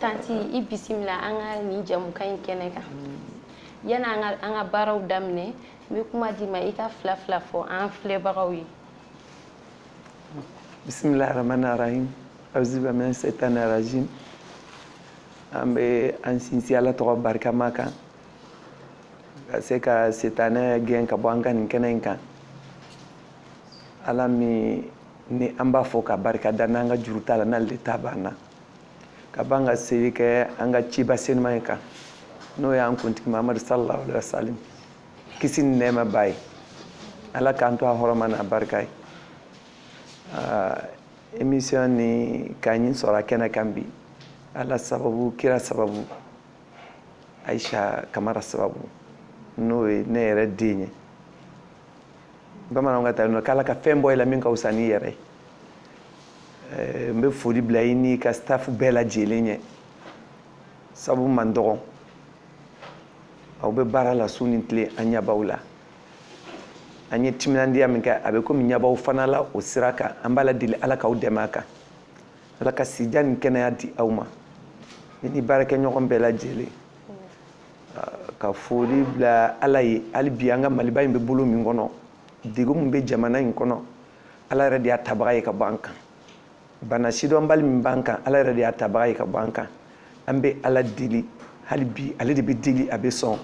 tanti i bisimila an ka nin jɛmukan in kɛnɛ kan yani an ka an ka baaraw daminɛ n bɛ kuma d'i ma i ka fila fila fɔ an filɛbagaw ye bisimilahi rahmani rahim awuzubilahi mina setani rajim an bɛ an sinsin ala tɔgɔ barikama kan ka se ka setanɛ gɛn ka bɔ an ka nin kɛnɛ in kan ala min ni an b'a fo ka barika da n'an ka juru t'a la n'ale de ta b'an na ka ban ka seli kɛ an ka ciba senuma in kan n'o y'an kuntigi mahamadu salallahu alaihi wasalim kisi ni nɛɛma b'a ye ala k'an to a hɔrɔma n'a barika ye emission nin ka ne sɔrɔ a kɛnɛ kan bi ala sababu kira sababu ayisa kamara sababu n'o ye ne yɛrɛ den ye bamananw ka ta nɔ k'ala ka fɛn bɔ i la min ka wusa n'i yɛrɛ ye eh, n bɛ foli bila i n'i ka staff bɛɛ lajɛlen ɲɛ sabu man dɔgɔn aw bɛ baara la su ni tile an ɲɛ b'aw la an ye timinandiya min kɛ a bɛ komi ɲɛ b'aw fana la o sira kan an b'ala deli ala k'aw dɛmɛ a kan ala ka si jan ni kɛnɛya di aw ma ne ni baarakɛɲɔgɔn bɛɛ lajɛlen ka foli bila ala ye hali bi an ka maliba in bɛ bolo min kɔnɔ degun min bɛ jamana in kɔnɔ ala yɛrɛ de y'a tabaga ye ka bɔ an kan bana sidɔnbali min b'an kan ala yɛrɛ de y'a tabaga ye ka bɔ an kan an bɛ ala deli hali bi ale de bɛ deli a bɛ sɔn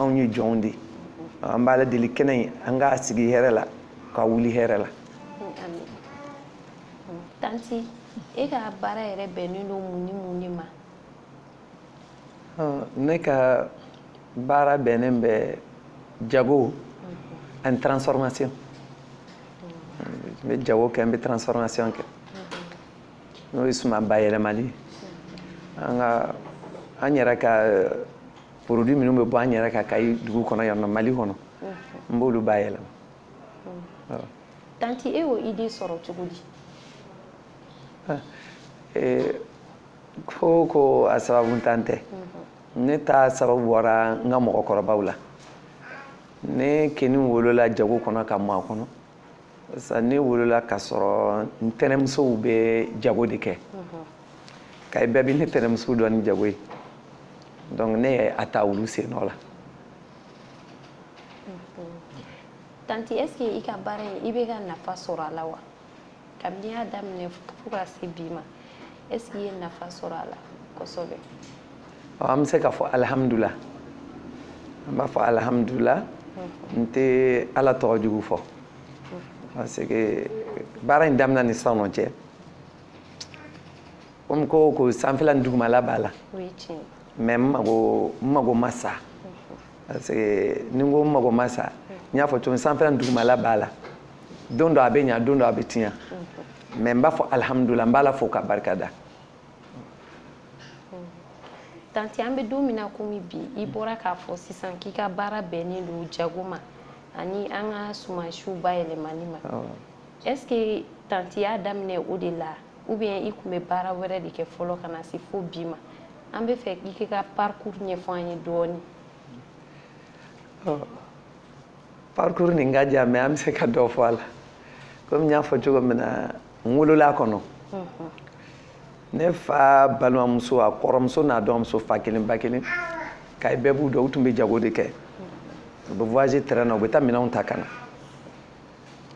anw ye jɔnw de an b'ala deli kɛnɛ in an k'a sigi hɛrɛ la k'a wuli hɛrɛ la amin tanti e ka baara yɛrɛ bɛnnen don mun ni mun de ma ne ka baara bɛnnen bɛ jago ani transformation n bɛ jago kɛ n bɛ transformation kɛ n'o ye suman bayɛlɛmali an ka an yɛrɛ ka eh, produit minnu bɛ bɔ an yɛrɛ ka kayi dugu kɔnɔ yan nɔ mali kɔnɔ n b'olu bayɛlɛma tanti e y'o idée sɔrɔ cogo di eh, ko o ko a sababu ntan tɛ ne ta sababu bɔra n ka mɔgɔkɔrɔbaw la ne kɛni wolola jago kɔnɔ ka mɔ a kɔnɔ sa ne wolola ka sɔrɔ n tɛnɛmusow bɛ jago de kɛ kayi bɛɛ bɛ ne tɛnɛmusow dɔn ni jago ye donc ne ye a ta olu sennɔ la tanti est ce que i ka baara in i bɛ ka nafa sɔrɔ a la wa kabini y'a daminɛ fo ka se bi ma est ce que i ye nafa sɔrɔ a la kosɛbɛ an bɛ se k'a fɔ alihamudulila an b'a fɔ alihamudulila n tɛ ala tɔgɔ jugu fɔ parce que baara in daminɛ ni sisan nɔ cɛ komi ko o ko sanfɛla ni dugumala b'a la mais n mago n mago ma sa parce que ni n ko n mago ma sa n y'a fɔ cogo min sanfɛla ni dugumala b'a la don dɔ a bɛ ɲa don dɔ a bɛ tiɲa mais n b'a fɔ alihamudulila n b'a la fo ka barika da tante an bɛ don min na komi bi i bɔra k'a fɔ sisan k'i ka baara bɛnnen don jago ma ani an ka sumansiw bayɛlɛmani ma est ce que tante y'a daminɛ o de la ou bien i tun bɛ baara wɛrɛ de kɛ fɔlɔ ka na se fo bi ma an b'a fɛ k'i ka parcours ɲɛfɔ an ye dɔɔni parcours nin ka jan mais an bɛ se ka dɔ fɔ a la komi n y'a fɔ cogo min na n wolola a kɔnɔ ne fa balimamuso a kɔrɔmuso n'a dɔgɔmuso fa kelen ba kelen kayi bɛɛ b'u dɔn u tun bɛ jago de kɛ u bɛ voyager train na u bɛ taa minɛnw ta ka na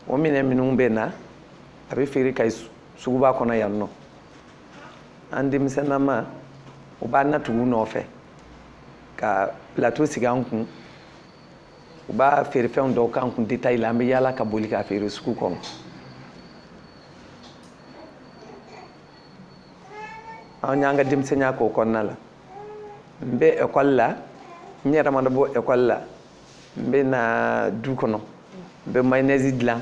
o minɛn minnu bɛ na a bɛ feere kayi suguba kɔnɔ yan nɔ an denmisɛnnama u b'an natugu nɔfɛ ka plateau sigi an kun u b'a feerefɛnw dɔw k'an kun détail la an bɛ yaala ka boli k'a feere sugu kɔnɔ an y'an ka denmisɛnninya k'o kɔnɔna la n bɛ ekɔli la n yɛrɛ mana bɔ ekɔli la n bɛ na du kɔnɔ n bɛ mayonnaise dilan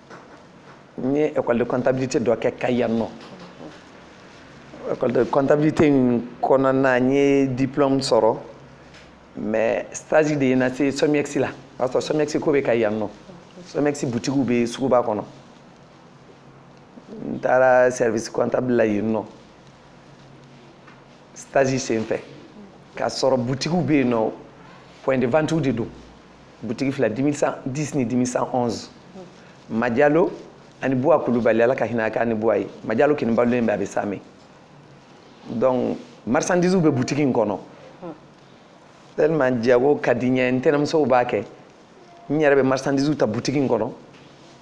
n ye école de comptabilité dɔ kɛ kayi yan nɔ école de comptabilité in kɔnɔna n ye diplôme sɔrɔ mais stage de ye n nase somiex la o y'a sɔrɔ somiex ko bɛ kayi yan nɔ somiex butigiw bɛ suguba kɔnɔ n taara service comptable la yen nɔ stage senfɛ k'a sɔrɔ butigiw bɛ yen nɔ point de vente de don butigi fila deux mille cent dix ni deux mille cent onze majalo ani buwa kulubali ala ka hinɛ a kan ani buwa ye majalo kɔni balolen bɛ a bɛ samɛ donc marchandise bɛ butigi in kɔnɔ tellement jago ka di n ye n tɛnɛmusow b'a kɛ n yɛrɛ bɛ marchandise ta butigi in kɔnɔ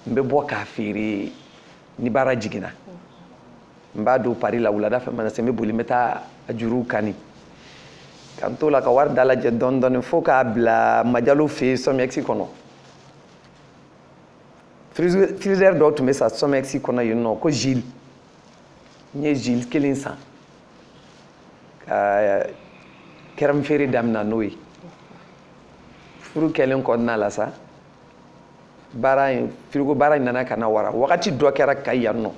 n bɛ bɔ k'a feere ni baara jiginna n b'a don pari la wulada fɛ mana se n bɛ boli n bɛ taa a juruw kani ka n t'o la ka wari dalajɛ dɔɔni dɔɔni fo k'a bila majalo fɛ yen sɔmiyɛkisi kɔnɔ frizidɛri dɔ tun bɛ sa sɔmiyɛkisi kɔnɔ yen nɔ ko zili n ye zili kelen san ka kɛrɛmufeere damina n'o ye furu kɛlen kɔnɔna la sa baara in firigo baara in nana ka na wara wagati dɔ kɛra kayi yan nɔ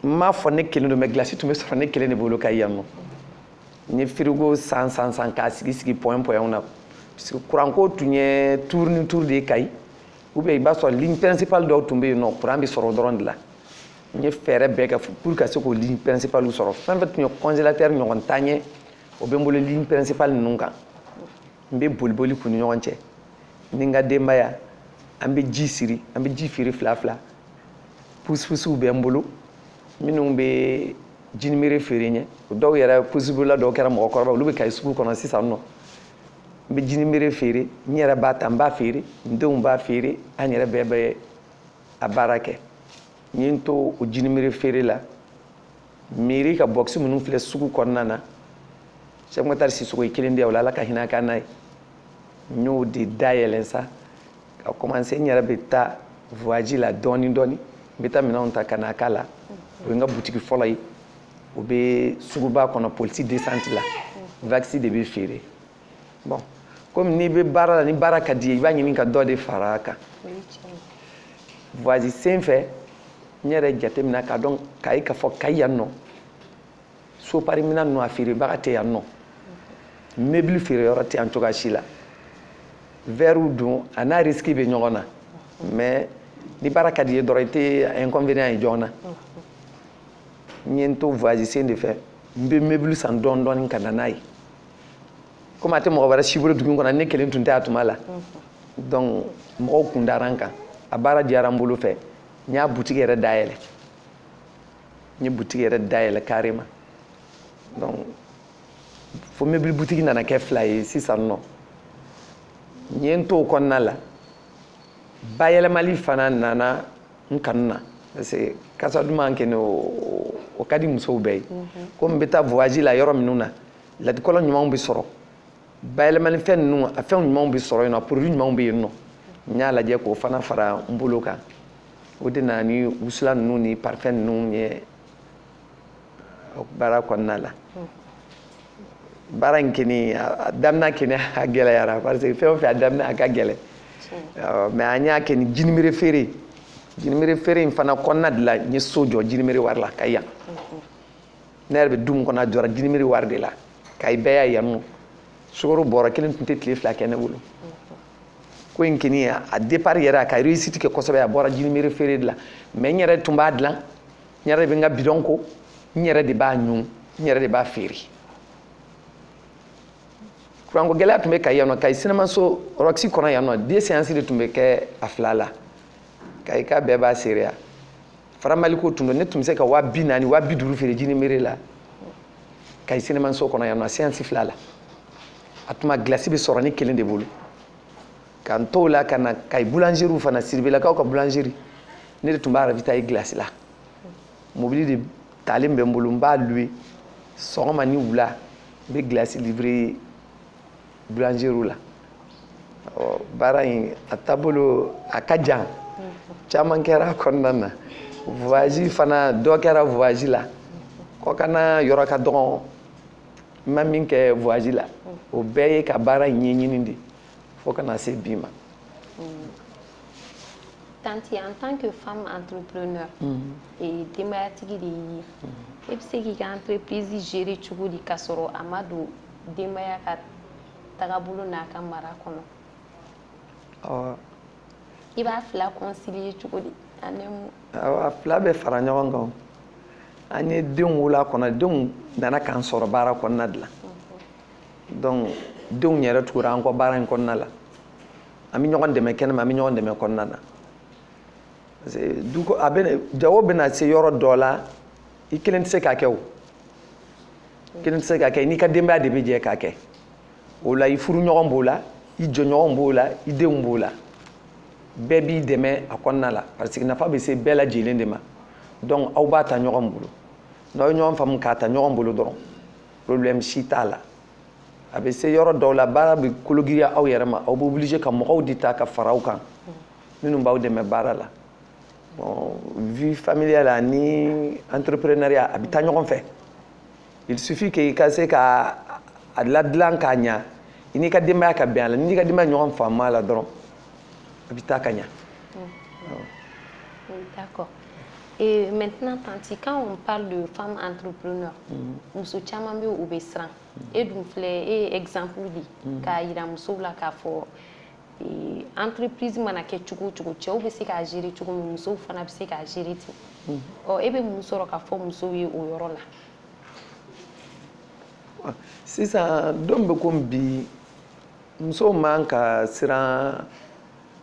n m'a fɔ ne kelen don mɛ gilasi tun bɛ sɔrɔ ne kelen de bolo kayi yan nɔ n ye firigo san san san k'a sigi sigi point pointw na parce que kuranko tun ye tuuru ni tuuru de ye kayi ou bien i b'a sɔrɔ ligne principale dɔw tun bɛ yen nɔ kuran bɛ sɔrɔ dɔrɔn de la n ye fɛɛrɛ bɛɛ kɛ pour ka se k'o ligne principale sɔrɔ fɛn fɛn tun ye congélateur ɲɔgɔn tan ye o bɛ n bolo ligne principale ninnu kan n bɛ boliboli k'u ni ɲɔgɔn cɛ ni n ka denbaya an bɛ ji siri an bɛ ji feere fila fila pusipusiw bɛ n bolo minnu bɛ jinimere feere n ye o dɔw yɛrɛ pusibolila dɔw kɛra mɔgɔkɔrɔba olu bɛ kayi sugu kɔnɔ sisan nɔ n bɛ jinimere feere n yɛrɛ b'a ta n b'a feere n denw b'a feere an yɛrɛ bɛɛ bɛ a baara kɛ n ye n to o jinimere feere la mɛri ka bɔkisi minnu filɛ sugu kɔnɔna na sɛki matari sisɔkɔ ye kelen di yan o la ala ka hinɛ a kan n'a ye n y'o de dayɛlɛn sa ka kɔmanse n yɛrɛ bɛ taa voyaji la dɔɔni dɔɔni n bɛ taa minɛnw ta ka na k'a la o ye n ka butigi fɔlɔ ye o bɛ suguba kɔnɔ police descente la vakisi de bɛ feere bɔn komi n'i bɛ baara la ni baara ka di ye i b'a ɲini ka dɔ de fara a kan voyage sen fɛ n yɛrɛ jateminɛ k'a dɔn k'a ye k'a fɔ kayi yan nɔ sopari minɛn ninnu a feerebaga tɛ yan nɔ mebili feereyɔrɔ tɛ yan cogoya si la vɛriw dun a n'a risiki bɛ ɲɔgɔn na mɛ ni baara ka di ye dɔrɔn i tɛ inconvénient ye joona n ye n to voyage sen de fɛ n bɛ mebili san dɔɔni dɔɔni ka na n'a ye komi a tɛ mɔgɔ wɛrɛ si bolo dugu kɔnɔ ne kelen tun tɛ a tuma la donc mɔgɔw kun dara n kan a baara diyara n bolo fɛ n y'a butigi yɛrɛ dayɛlɛ n ye butigi yɛrɛ dayɛlɛ carrément donc fo mebili butigi nana kɛ fila ye sisan nɔ n ye n t'o kɔnɔna la bayɛlɛmali fana nana n kanu na parce que kasa duman kɔni o ka di musow bɛɛ ye komi n bɛ taa voyage la yɔrɔ minnu na latikɔlɔ ɲumanw bɛ sɔrɔ bayɛlɛmanifɛn ninnu a fɛn ɲumanw bɛ sɔrɔ yen nɔ produit ɲumanw bɛ yen nɔ n y'a lajɛ k'o fana fara n bolo kan o de nana ni wusulan ninnu ni parfum ninnu ye baara kɔnɔna la baara in kɔni a daminɛ kɔni a gɛlɛyara parce que fɛn o fɛn a daminɛ a ka gɛlɛn mɛ an y'a kɛ ni jinimere feere jinimere feere in fana kɔnɔna de la n ye so jɔ jinimere wari la kayi yan ne yɛrɛ bɛ du min kɔnɔ a jɔra jinimere wari de la kayi bɛɛ y'a yan nɔ sukaro bɔrɔ kelen tun tɛ tile fila kɛ ne bolo ko in kɔni a départ yɛrɛ a ka réussite kɛ kosɛbɛ a bɔra jinimere feere de la mɛ n yɛrɛ tun b'a dilan n yɛrɛ de bɛ n ka bidɔn ko n yɛrɛ de b'a ɲun n yɛrɛ de b'a feere kuranko gɛlɛya tun bɛ kayi yan nɔ kayi sinamaso roxy kɔnɔ yan nɔ deux séances de tun bɛ kɛ a fila la kayika bɛɛ b'a seereya faramaliko tun don ne tun bɛ se ka waa bi naani waa bi duuru feere jinimere la kayi sinamaso kɔnɔ yan nɔ séance fila la a tuma glace bɛ sɔrɔ ne kelen de bolo ka n t'o la ka na kayi boulangerie fana siribelakaw ka boulangerie ne de tun b'a ravitailler glace la mobili de talen bɛ n bolo n b'a louer sɔgɔma ni wula n bɛ glace livrer boulangerie la ɔ baara in a taabolo a ka jan caman kɛra a kɔnɔna na voyage fana dɔ kɛra voyage la kɔkanna yɔrɔ ka dɔgɔn n ma min kɛ voyage la o bɛɛ ye ka baara in ɲɛɲini de fo ka na se bi ma mm. tanti en tant que femme entrepreneur mm. denbayatigi de y'i ye mm. e bɛ se k'i ka entreprise gérer cogo di k'a sɔrɔ a ma don denbaya ka tagabolo n'a ka mara kɔnɔ i b'a fila concilier cogo di a fila bɛ fara ɲɔgɔn kan an ye denw wolo a kɔnɔ denw nana k'an sɔrɔ baara kɔnɔna de la donc denw yɛrɛ tugura an kɔ baara in kɔnɔna la an bɛ ɲɔgɔn dɛmɛ kɛnɛma an bɛ ɲɔgɔn dɛmɛ kɔnɔna na parce que du ko a bɛ jago bɛna se yɔrɔ dɔ la i kelen tɛ se k'a kɛ o kelen tɛ se k'a kɛ n'i ka denbaya de bɛ jɛ k'a kɛ o la i furuɲɔgɔn b'o la i jɔɲɔgɔn b'o la i denw b'o la bɛɛ b'i dɛmɛ a kɔnɔna la parce que nafa bɛ se bɛɛ lajɛlen de ma donc aw b'a ta ɲɔgɔn bolo n'aw ye ɲɔgɔn faamu k'a ta ɲɔgɔn bolo dɔrɔn problème si t'a la a bɛ se yɔrɔ dɔw la baara bɛ kologiriya aw yɛrɛ ma aw bɛ obligé ka mɔgɔw de ta ka fara aw kan minnu b'aw dɛmɛ baara la bon vie familiale ani entrepreneuriat a bɛ taa ɲɔgɔn fɛ il suffit que i ka se ka a ladilan k'a ɲa i n'i ka denbaya ka bɛn a la n'i ka denbaya ɲɔgɔn faamu a la dɔrɔn a bɛ taa ka ɲa. D'accord. Et maintenant, Tanti, quand on parle de femmes entrepreneurs, muso caman bɛ u bɛ siran e dun filɛ e ye exemple di mm. k'a yira musow la k'a fɔ e, entreprise mana kɛ cogo o cogo cɛw bɛ se k'a gérer cogo min musow fana bɛ se k'a gérer ten mm. ɔ e bɛ mun sɔrɔ k'a fɔ musow ye o yɔrɔ la. Ah, sisan don bɛ komi bi musow man ka siran.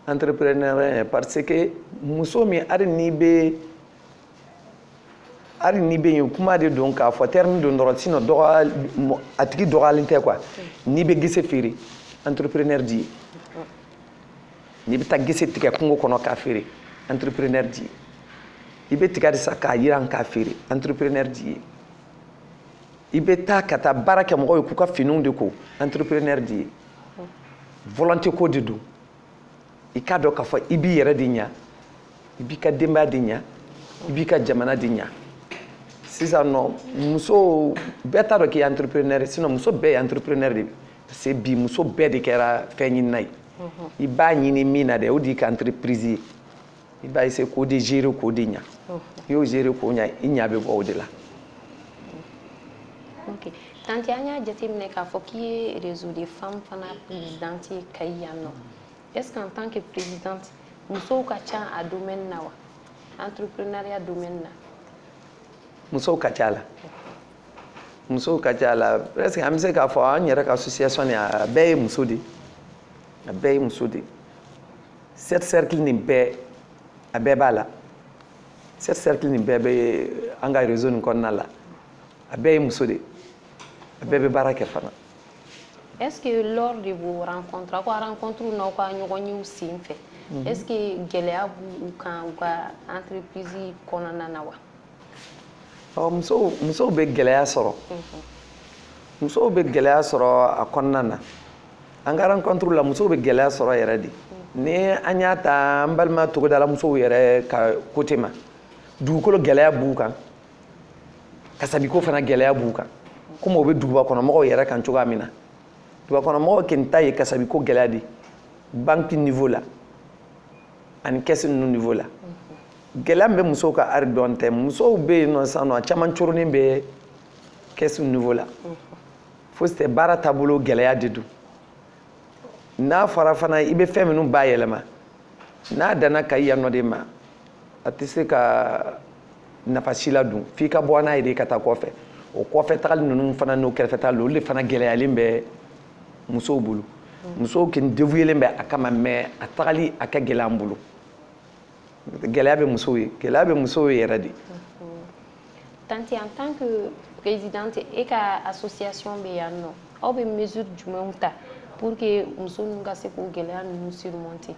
entrepreneur parce que muso min hali n'i bɛ hali n'i bɛ yen kuma de don k'a fɔ terme don dɔrɔn sinon a tigi dɔgɔyalen tɛ quoi n'i bɛ gese feere entrepreneur di ye n'i bɛ taa gese tigɛ kungo kɔnɔ k'a feere entrepreneur di ye i bɛ tiga de san k'a yiran k'a feere entrepreneur di ye i bɛ taa ka taa baara kɛ mɔgɔw ye k'u ka finiw de ko entrepreneur di ye. volonté ko de don i k'a dɔn k'a fɔ i b'i yɛrɛ de ɲa i b'i ka denbaya de ɲa i b'i ka jamana de ɲa sisan nɔ muso bɛɛ t'a dɔn k'i ye entrepreneur ye sinon muso bɛɛ ye entrepreneur de ye parce que bi muso bɛɛ de kɛra fɛn ɲinina ye i b'a ɲini min na dɛ o de y'i ka entreprise ye i b'a essayer k'o de gérer k'o de ɲa i y'o gérer k'o ɲa i ɲa bɛ bɔ o de la ok tanti an y'a jateminɛ k'a fɔ k'i ye réseau des femmes fana présidente ye kayi yan nɔ est ce qu'en tant que présidente musow ka ca a domaine na wa entrepreneuriat domaine na musow ka ca la musow ka ca la presque an bɛ se k'a fɔ an yɛrɛ ka association nin a bɛɛ ye muso de ye a bɛɛ ye muso de ye sept cercles nin bɛɛ a bɛɛ b'a la sept cercles nin bɛɛ bɛ an ka réseau nin kɔnɔna la a bɛɛ ye muso de ye a bɛɛ bɛ baara kɛ fana. est ce que lors de vos rencontres aw ka rencontre n'aw ka ɲɔgɔn yew sen fɛ. Mhm. est ce que gɛlɛya b'u kan u ka entreprise kɔnɔna na wa. ɔ musow musow bɛ gɛlɛya sɔrɔ. Mhm. musow bɛ gɛlɛya sɔrɔ a kɔnɔna na. an ka rencontre la musow bɛ gɛlɛya sɔrɔ yɛrɛ de ni an y'a ta an balima togodala musow yɛrɛ ka côté ma dugukolo gɛlɛya b'u kan kasabiko fana gɛlɛya b'u kan komi o bɛ duguba kɔnɔmɔgɔw yɛrɛ kan cogoya min na duguba kɔnɔmɔgɔw kɛni ta ye kasabiko gɛlɛya de banque niveau la ani caisse ninnu niveau la gɛlɛya min bɛ musow kan hali dɔɔnin tɛ musow bɛ yen nɔ sisan nɔ a caman coronin bɛ caisse niveau la fosi tɛ baara taabolo gɛlɛya de don n'a fɔra fana i bɛ fɛn minnu bayɛlɛma n'a danna kayi yan nɔ de ma a tɛ se ka nafa si ladon f'i ka bɔ n'a ye de ka taa kɔfɛ o kɔfɛ tagali ninnu fana n'o kɛrɛfɛ tagali olu de fana gɛlɛyalen bɛ musow bolo musow kɛni dévouélen bɛ a kama mais a tagali a ka gɛlɛn an bolo gɛlɛya bɛ musow ye gɛlɛya bɛ musow ye yɛrɛ de tanti en tant que présidente e ka association bɛ yan nɔ aw bɛ mesure jumɛnw ta pour que muso ninnu ka se k'o gɛlɛya ninnu surmonter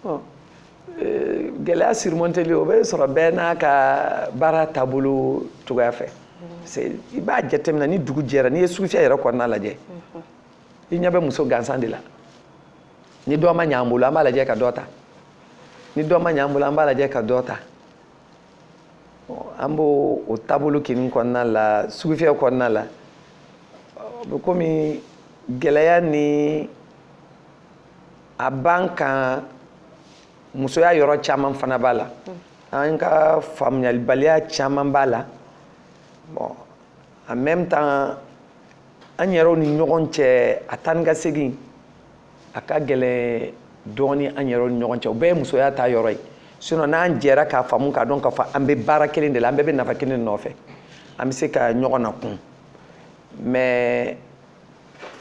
bon euh, gɛlɛya surmonteli o bɛ sɔrɔ bɛɛ n'a ka baara taabolo cogoya fɛ i b'a jateminɛ ni dugu jɛra n'i ye sugufiyɛ yɛrɛ kɔnɔna lajɛ i ɲɛ bɛ muso gansan de la ni dɔ ma ɲɛ an bolo an b'a lajɛ ka dɔ ta ni dɔ ma ɲɛ an bolo an b'a lajɛ ka dɔ ta an bɛ o taabolo kɛni kɔnɔna la sugufiyɛ kɔnɔna la o bɛ komi gɛlɛya ni a b'an kan musoya yɔrɔ caman fana b'a la an ka faamuyalibaliya caman b'a la bɔn en même temps an yɛrɛw ni ɲɔgɔn cɛ a taa ni ka segin a ka gɛlɛn dɔɔni an yɛrɛw ni ɲɔgɔn cɛ o bɛɛ ye musoya ta yɔrɔ ye sinon n'an jɛra k'a faamu k'a dɔn k'a fɔ an bɛ baara kelen de la an bɛɛ bɛ nafa kelen de nɔfɛ an bɛ se ka ɲɔgɔn na kun mais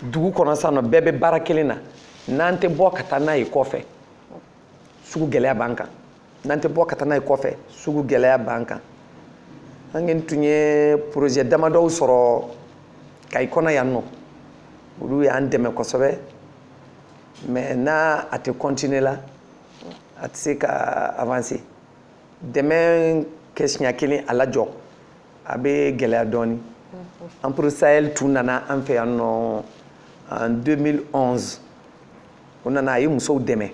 dugu kɔnɔ sisan nɔ bɛɛ bɛ baara kelen na n'an tɛ bɔ ka taa n'a ye kɔfɛ sugu gɛlɛya b'an kan n'an tɛ bɔ ka taa n'a ye kɔfɛ sugu gɛlɛya b'an kan an kɛni tun ye projet damadɔw sɔrɔ kayi kɔnɔ yan nɔ olu y'an dɛmɛ kosɛbɛ mais n'a a tɛ continuer la a tɛ se ka avancer dɛmɛ kɛ siɲɛ kelen a lajɔ a bɛ gɛlɛya dɔɔni empire sahel tun nana an fɛ yan nɔ en 2011 o nana a ye musow dɛmɛ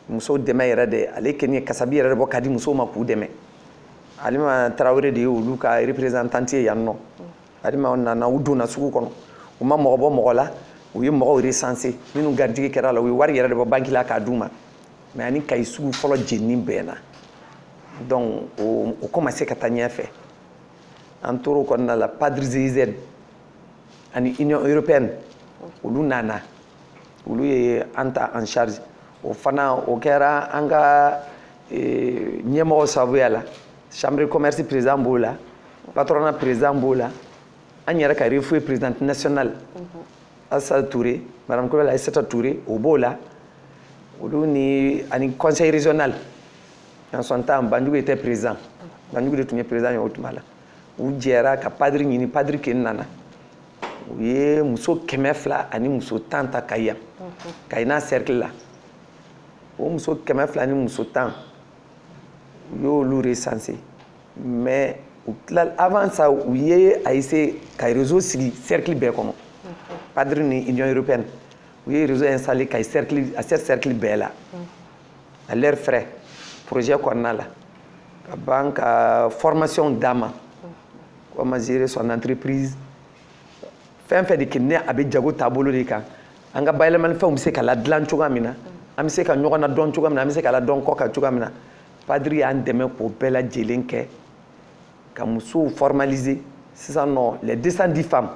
muso dɛmɛ yɛrɛ de ale kɛni ye kasabi yɛrɛ de bɔ ka di musow ma k'u dɛmɛ alima tarawele de ye olu ka représentante ye yan nɔ alima nana u donna sugu kɔnɔ u ma mɔgɔ bɔ mɔgɔ la u ye mɔgɔw recensé minnu garijɛgɛ kɛra la u ye wari yɛrɛ de bɔ banki la k'a d'u ma mais a ni kayi sugu fɔlɔ jenini bɛnna donc o o commencé ka taa ɲɛfɛ an tora o kɔnɔna la padre giz ani union européenne olu nana olu ye an ta en charge o fana o kɛra an ka e, ɲɛmɔgɔ sababuya la chambre commerce président b'o la patronat président b'o la an yɛrɛ ka refoe présidente nationale mhm. asa touré madame coulibaly aissata touré o b'o la olu ni ani conseil régional en son temps banjugu était président banjugu de tun ye président ye o tuma la u jɛra ka padre ɲini padre kɛni nana u ye muso kɛmɛ fila ani muso tan ta kayi yan kayi n'a cercle la o muso kɛmɛ fila ni muso tan u y'olu recensé mais u tila avant ça u ye a essayé ka réseau sigi cercle bɛɛ kɔnɔ padre ni union européenne u ye réseau installé kayi cercle a sept cercle bɛɛ la à leur frais projet kɔnɔna la ka ban ka formation d'a ma comment gérer son entreprise fɛn fɛn de kɛ ni a bɛ jago taabolo de kan an ka bayɛlɛmani fɛnw bɛ se ka ladilan cogoya min na an bɛ se ka ɲɔgɔn na dɔn cogoya min na an bɛ se ka ladɔn kɔ kan cogoya min na padiri y'an dɛmɛ k'o bɛɛ lajɛlen kɛ ka musow formaliser sisan nɔ les 210 femmes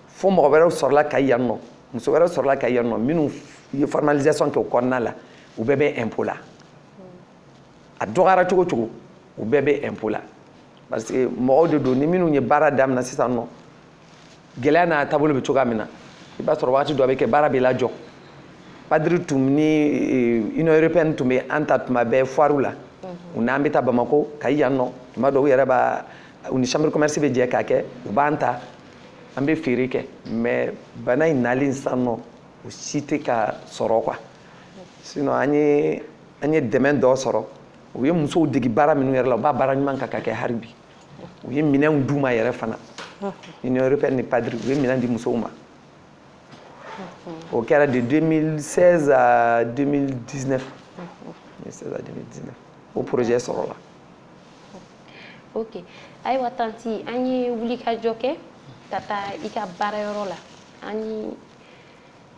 fo mɔgɔ wɛrɛw sɔrɔla kayi yan nɔ muso wɛrɛw sɔrɔla kayi yan nɔ minnu ye formalisation kɛ o kɔnɔna la u bɛɛ bɛ impôt la a dɔgɔyara cogo cogo u bɛɛ bɛ impôt la parce que mɔgɔw de don ni minnu ye baara daminɛ sisan nɔ gɛlɛya n'a taabolo bɛ cogoya min na i b'a sɔrɔ waati dɔ a bɛ kɛ baara bɛ lajɔ padiri tun ni eh, union européenne tun bɛ an ta tuma bɛɛ foirew la u n'an bɛ taa bamako kayi yan nɔ tuma dɔw u yɛrɛ b'a u ni chambre commerce bɛ jɛ k'a kɛ u b'an ta an bɛ feere kɛ mais bana in nalen sisan nɔ o si tɛ ka sɔrɔ quoi sinon an ye an ye dɛmɛ dɔ sɔrɔ u ye musow degi baara minnu yɛrɛ la u b'a baara ɲuman kan ka kɛ hali bi u ye minɛnw d'u ma yɛrɛ fana union européenne ni padiri u ye minɛn di musow ma o kɛra de 2016 à 2019 2016 à 2019 o projet sɔrɔla ok ayiwa tanti an ye wulikajɔ kɛ ka taa i ka baarayɔrɔ la an ni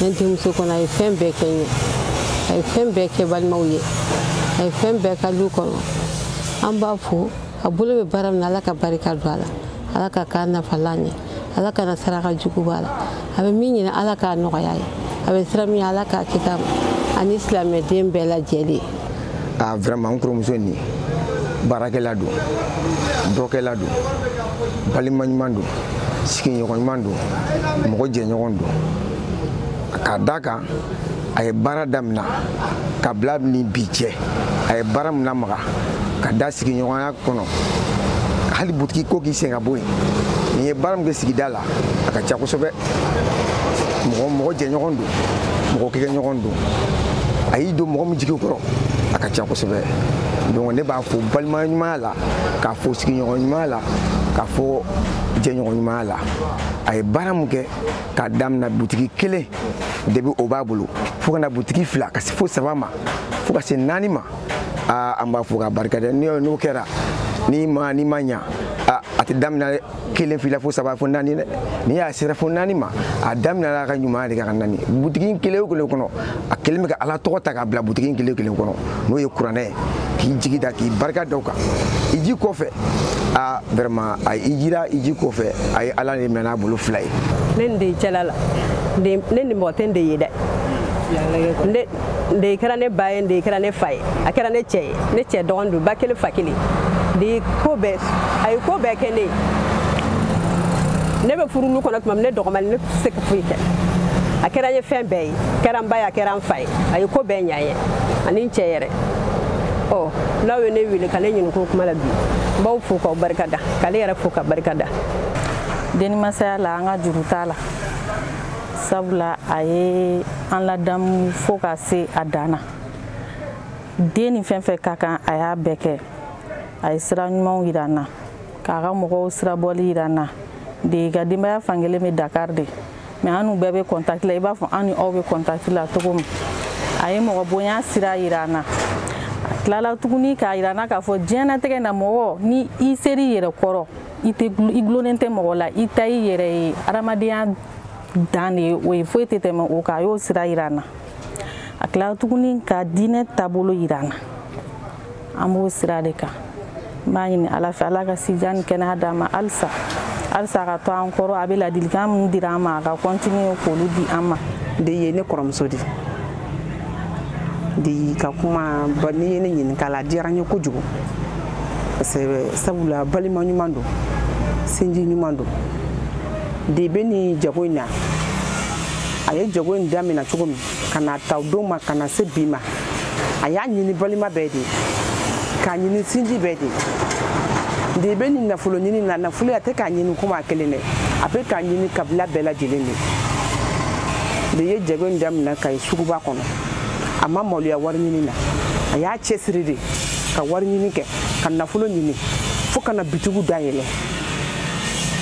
ne denmuso kɔnɔ a ye fɛn bɛɛ kɛ n ye a ye fɛn bɛɛ kɛ balimaw ye a ye fɛn bɛɛ kɛ du kɔnɔ an b'a fo a bolo bɛ baara min na ala ka barika don a la ala ka k'a nafalan ye ala kana saraka jugu b'a la a bɛ min ɲini ala k'a nɔgɔya a ye a bɛ siran min ɲɛ ala k'a kisi a ma ani silamɛden bɛɛ lajɛlen a vraiment n kɔrɔmuso nin baarakɛla don dɔkɛla don balima ɲuman don sigiɲɔgɔn ɲuman don mɔgɔ jɛɲɔgɔn don k'a d'a kan a ye baara damina ka bila ni bi cɛ a ye baara min lamaga ka da sigiɲɔgɔnya kɔnɔ hali butigi ko k'i sen ka bɔ yen nin ye baara min kɛ sigida la a ka ca kosɛbɛ mɔgɔ mɔgɔ jɛɲɔgɔn don mɔgɔ kokɛɲɔgɔn don a y'i don mɔgɔ min jigi kɔrɔ a ka ca kosɛbɛ donc ne b'a fo balima ɲumanya la k'a fo sigiɲɔgɔn ɲumanya la k'a fo jɛɲɔgɔn ɲumanya la a ye baara min kɛ k'a damina butigi kelen depuis o b'a bolo fo ka na butigi fila ka se fo saba ma fo ka se naani ma aa an b'a fo k'a barika dɛ n'o kɛra n'i ma n'i ma ɲa a tɛ damina dɛ kelen fila fo saba fo naani dɛ n'i y'a sera fo naani ma a daminɛla a ka ɲumanya de k'a kɛ naani butigi kelen o kelen kɔnɔ a kɛlen bɛ ka ala tɔgɔ ta k'a bila butigi kelen o kelen kɔnɔ n'o ye kuranɛ ye k'i jigi da k'i barika da o kan i ji kɔfɛ a vraiment a i jira i ji kɔfɛ a ye ala de minɛ n'a bolo fila ye ne nin de ye cɛla la ne nin mɔgɔ tɛ n de ye dɛ de kɛra ne ba ye de kɛra ne fa ye a kɛra ne cɛ ye ne cɛ dɔgɔnin don ba kelen fa kelen de ko bɛɛ a ye ko bɛɛ kɛ ne ye ne bɛ furu kɔnɔ tuma min ne dɔgɔmani ne tɛ se ka foyi kɛ a kɛra n ye fɛn bɛɛ ye kɛra n ba ye a kɛra n fa ye a ye ko bɛɛ ɲa n ye ani n cɛ yɛrɛ ɔ n'aw ye ne wele ka ne ɲininka o kuma la bi n b'aw fo k'aw barika da k'ale yɛrɛ fo ka barika da denimasaya la an ka juru t'a la sabula a ye an ladamu fo ka se a dan na den ni fɛn fɛn ka kan a y'a bɛɛ kɛ a ye sira ɲumanw yira an na k'a ka mɔgɔw sirabɔli yira an na de ka denbaya fankelen bɛ dakar de mais an n'u bɛɛ bɛ contact la i b'a fɔ an ni aw bɛ contact la cogo min a ye mɔgɔ bonya sira yira an na a tilala tuguni k'a yira an na k'a fɔ diɲɛnatigɛ na mɔgɔ ni i sera i yɛrɛ kɔrɔ i tɛ i gulonnen tɛ mɔgɔ la i ta i yɛrɛ ye adamadenya dan de ye o ye foyi tɛ tɛmɛ o kan a y'o sira yira an na a tilara tuguni ka diinɛ taabolo yira an na an b'o sira de kan n b'a ɲini ala fɛ ala ka sijan ni kɛnɛya d'a ma halisa halisa a ka to an kɔrɔ a bɛ ladilikan min dira an ma a ka continuer k'olu di an ma de ye ne kɔrɔmuso de de ka kuma n'i ye ne ɲininka la a diyara n ye kojugu parce que sabula balima ɲuman don sinji ɲuman don de bɛ nin jago in na a ye jago in damina cogo min ka na ta o don ma ka na se bi ma a y'a ɲini balima bɛɛ de k'a ɲini sinji bɛɛ de de bɛ nin nafolo ɲini na nafolo a tɛ k'a ɲini komi a kelen dɛ a bɛ k'a ɲini kabila bɛɛ lajɛlen de de ye jago in daminɛ kayi suguba kɔnɔ a ma maloya wari ɲini na a y'a cɛsiri de ka wari ɲini kɛ ka nafolo ɲini fo ka na bitigiw dayɛlɛ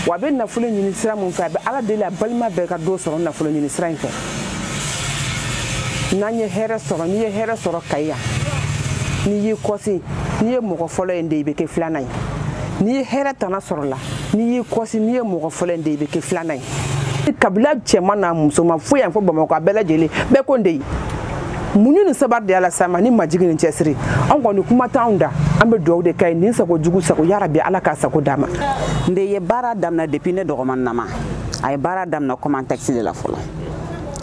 wa a bɛ nafolo ɲini sira min fɛ a bɛ ala deli a balima bɛɛ ka dɔ sɔrɔ nafolo ɲini sira in fɛ n'an ye hɛrɛ sɔrɔ n'i ye hɛrɛ sɔrɔ kayi yan n'i y'i kɔsi n'i ye mɔgɔ fɔlɔ ye de i bɛ kɛ filanan ye n'i ye hɛrɛ tana sɔrɔ la n'i y'i kɔsi n'i ye mɔgɔ fɔlɔ ye de i bɛ kɛ filanan ye kabila cɛman n'a musoman foyi yan fo bamakɔ a bɛɛ lajɛlen bɛɛ ko n de ye muɲu ni sabari de ala sama ni majigi ni cɛsiri an kɔni kuma t'anw da an bɛ dugawu de k'a ye ɲin sago jugu sago yarabi ala k'a sago d'a ma n de ye baara damina depuis ne dɔgɔman nama a ye baara damina comme taxi de la fɔlɔ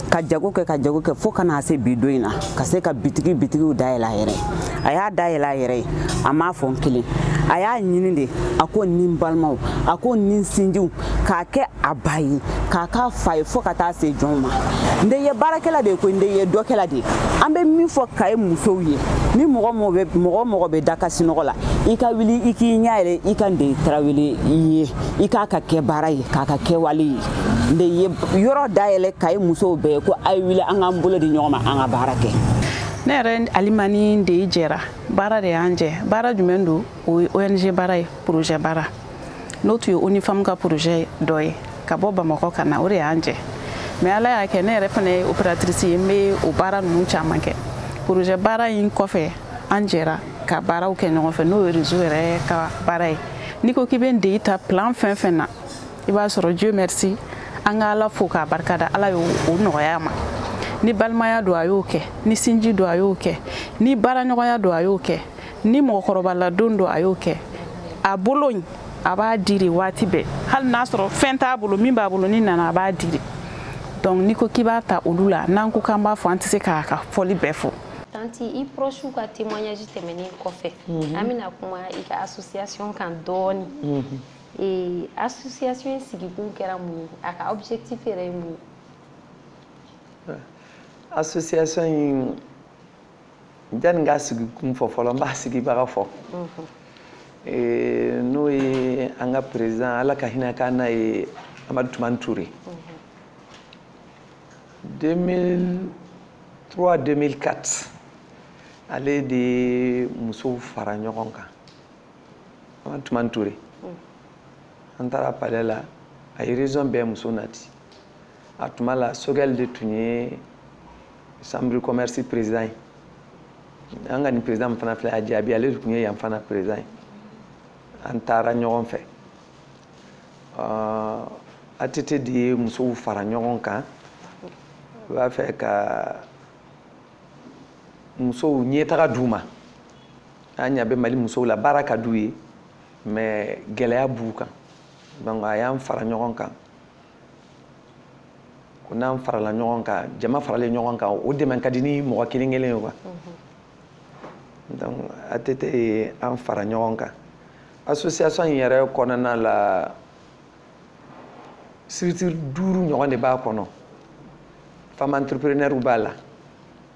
ka jago kɛ ka jago kɛ fo ka na se bi don in na ka se ka bitigi bitigiw dayɛlɛ a yɛrɛ ye a y'a dayɛlɛ a yɛrɛ ye a m'a fɔ n kelen a y'a ɲini de a ko ni n balimaw a ko ni n sinjiw k'a kɛ a ba ye k'a k'a fa ye fo ka taa se jɔnw ma n de ye baarakɛla de ye koyi n de ye dɔkɛla de ye an bɛ min fɔ kayi musow ye ni mɔgɔ mɔgɔ mɔgɔ bɛ da ka sinɔgɔ la i ka wuli i k'i ɲɛ yɛlɛ i ka n de tarawele ye i k'a ka kɛbaara ye k'a ka kɛwale ye de ye yɔrɔ dayɛlɛ Kayi musow bɛɛ ye ko a ye wuli an k'an bolo di ɲɔgɔn ma an ka baara kɛ ne yɛrɛ ani Mame Ndeye jɛra baara de y'an jɛ baara jumɛn don o ye ONG baara ye projet baara n'o tun ye UNIFEM ka projet dɔ ye ka bɔ Bamakɔ ka na o de y'an jɛ mais ala y'a kɛ ne yɛrɛ fana ye opératrice ye n bɛ o baara ninnu caman kɛ projet baara in kɔfɛ an jɛra ka baaraw kɛ ɲɔgɔn fɛ n'o ye réseau yɛrɛ ka baara ye n'i ko k'i bɛ Ndeye ta plan fɛn fɛn na i b'a sɔrɔ dieu merci an ka ala fo k'a barika da ala y'o nɔgɔya ma ni balimaya don a y'o kɛ ni sinji don a y'o kɛ ni baaraɲɔgɔnya don a y'o kɛ ni mɔgɔkɔrɔbaladon don a y'o kɛ a bolo in a b'a di de waati bɛɛ hali n'a sɔrɔ fɛn t'a bolo min b'a bolo n'i nana a b'a di de donc n'i ko k'i b'a ta olu la n'an ko k'an b'a fɔ an tɛ se k'a ka fɔli bɛɛ fɔ tanti i proche ka témoignage tɛmɛnen kɔfɛ mhm. an bɛna kuma i ka association kan dɔɔni mhm. Ee association in sigikun kɛra mun ye a ka objectif yɛrɛ ye mun ye. association in janni n k'a sigi kun fɔ fɔlɔ n b'a sigibaga fɔ. Ee n'o ye an ka président ala ka hin'a kan n'a ye Amadu Tumani Ture. 2003 2004 ale de ye musow fara ɲɔgɔn kan. Amadu Tumani Ture an taara palais la a ye région bɛɛ muso nati a tuma la Choguel de tun ye chambre commerce président ye an ka nin président min fana filɛ a Jaabi ale de tun ye yan fana président ye an taara ɲɔgɔn fɛ ATT de ye musow fara ɲɔgɔn kan a b'a fɛ ka musow ɲɛtaga d'u ma an ɲa bɛ Mali musow la baara ka d'u ye mais gɛlɛya b'u kan donc a y'an fara ɲɔgɔn kan ko n'an farala ɲɔgɔn kan jama faralen ɲɔgɔn kan o dɛmɛ ka di ni mɔgɔ kelen kelen ye quoi mhm. donc ATT ye an fara ɲɔgɔn kan association in yɛrɛ kɔnɔna la structure duuru ɲɔgɔn de b'a kɔnɔ femme entrepreneur b'a la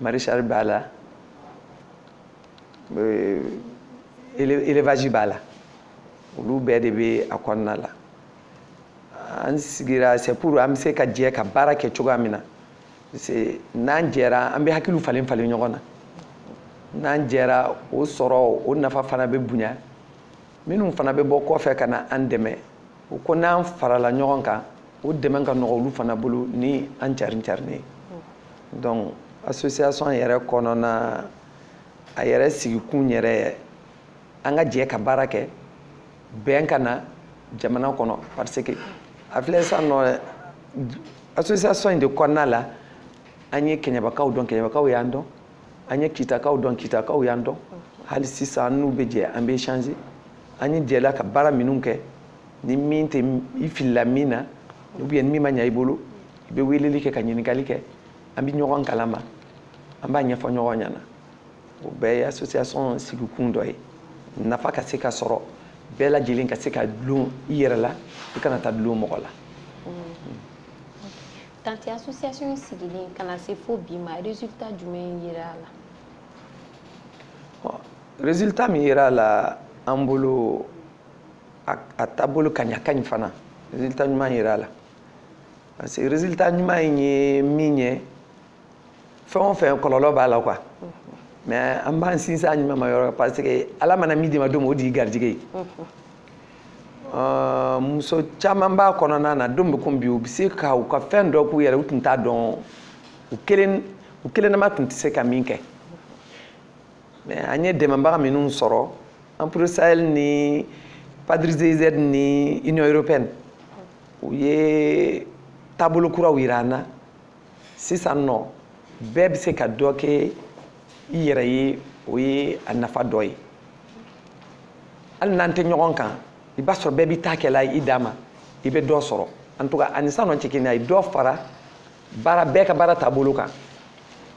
maraîchage b'a la euh, élevage b'a la olu bɛɛ de bɛ a kɔnɔna la an sigira c'est pour an bɛ se ka jɛ ka baara kɛ cogoya min na parce que n'an jɛra an bɛ hakiliw falen falen ɲɔgɔn na n'an jɛra o sɔrɔ o nafa fana bɛ bonya minnu fana bɛ bɔ kɔfɛ ka na an dɛmɛ u ko n'an farala ɲɔgɔn kan o dɛmɛ ka nɔgɔ olu fana bolo ni an carin carinen ye donc association yɛrɛ kɔnɔna a yɛrɛ sigikun yɛrɛ an ka jɛ ka baara kɛ bɛn ka na jamana kɔnɔ parce que a filɛ sisan nɔ association in de kɔnɔna la an ye kɛɲɛbakaw dɔn kɛɲɛbakaw y'an dɔn an ye kitakaw dɔn kitakaw y'an dɔn hali sisan n'u bɛ jɛ an bɛ échanger an ye jɛla ka baara minnu kɛ ni min tɛ i filila min na ou bien ni min ma ɲa i bolo i bɛ weleli kɛ ka ɲininkali kɛ an bɛ ɲɔgɔn kalama an b'a ɲɛfɔ ɲɔgɔn ɲɛna o bɛɛ ye association sigikun dɔ ye nafa ka se ka sɔrɔ bɛɛ lajɛlen ka se ka dulon i yɛrɛ la i kana taa dulon mɔgɔ la Tante association in sigilen ka na se fo bi ma résultat jumɛn yera a la résultat min yera a la an bolo a taabolo ka ɲa ka ɲi fana résultat ɲuman yera a la parce que résultat ɲuman in ye min ye fɛn o fɛn kɔlɔlɔ b'a la quoi mais an b'an sinsin a ɲumanma yɔrɔ parce que ala mana min d'i ma don min o de y'i garijɛgɛ ye Uh, muso caman b'a kɔnɔna na don bɛ ko bi u bɛ se ka u ka fɛn dɔ k'u yɛrɛ u tun t'a dɔn u kelen u kelennama tun tɛ se ka min kɛ mais an ye dɛmɛbaga minnu sɔrɔ AMPRO Sahel ni PADRE GIZ ni union européenne u ye taabolo kuraw yira an na sisan nɔ bɛɛ bɛ se ka dɔ kɛ i yɛrɛ ye o ye a nafa dɔ ye hali n'an tɛ ɲɔgɔn kan i b'a sɔrɔ bɛɛ b'i ta kɛla i dan ma i bɛ dɔ sɔrɔ en tout cas a ni sisan nɔ tɛ kelen ye a ye dɔ fara baara bɛɛ ka baara taabolo kan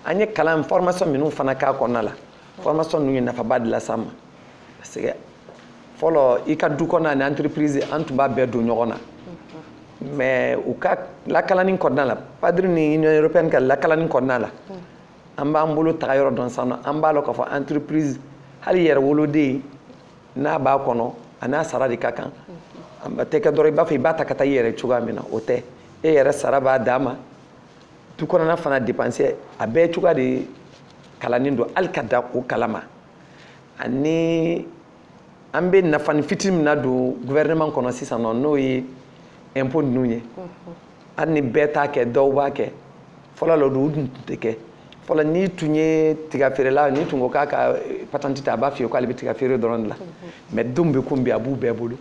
an ye kalan formation minnu fana k'a kɔnɔna la formation ninnu ye nafaba de las'an ma parce que fɔlɔ i ka du kɔnɔna ni entreprise an tun b'a bɛɛ don ɲɔgɔn na mais u ka lakalani kɔnɔna la PADRE ni union européenne ka lakalani kɔnɔna la an b'an bolo taga yɔrɔ dɔn sisan nɔ an b'a lɔn k'a fɔ entreprise hali i yɛrɛ woloden n'a b'a kɔnɔ a n'a sara de ka kan a tɛ kɛ dɔrɔn i b'a fɔ i b'a ta ka taa i yɛrɛ cogoya min na o tɛ e yɛrɛ sara b'a dan ma du kɔnɔna fana dépense a bɛɛ cogoya de kalannen don hali ka da o kalama ani an bɛ nafani fitini min nadon gouvernement kɔnɔ sisan nɔ n'o ye impôt ninnu ye hali ni bɛɛ t'a kɛ dɔw b'a kɛ fɔlɔ la o dun tun tɛ kɛ fɔlɔ n'i tun ye tigafeerela n'i tun ko k'a ka eh, patente ta a b'a f'i ye k'ale bɛ tigafeere dɔrɔn de la mais don bɛ ko bi a b'u bɛɛ bolo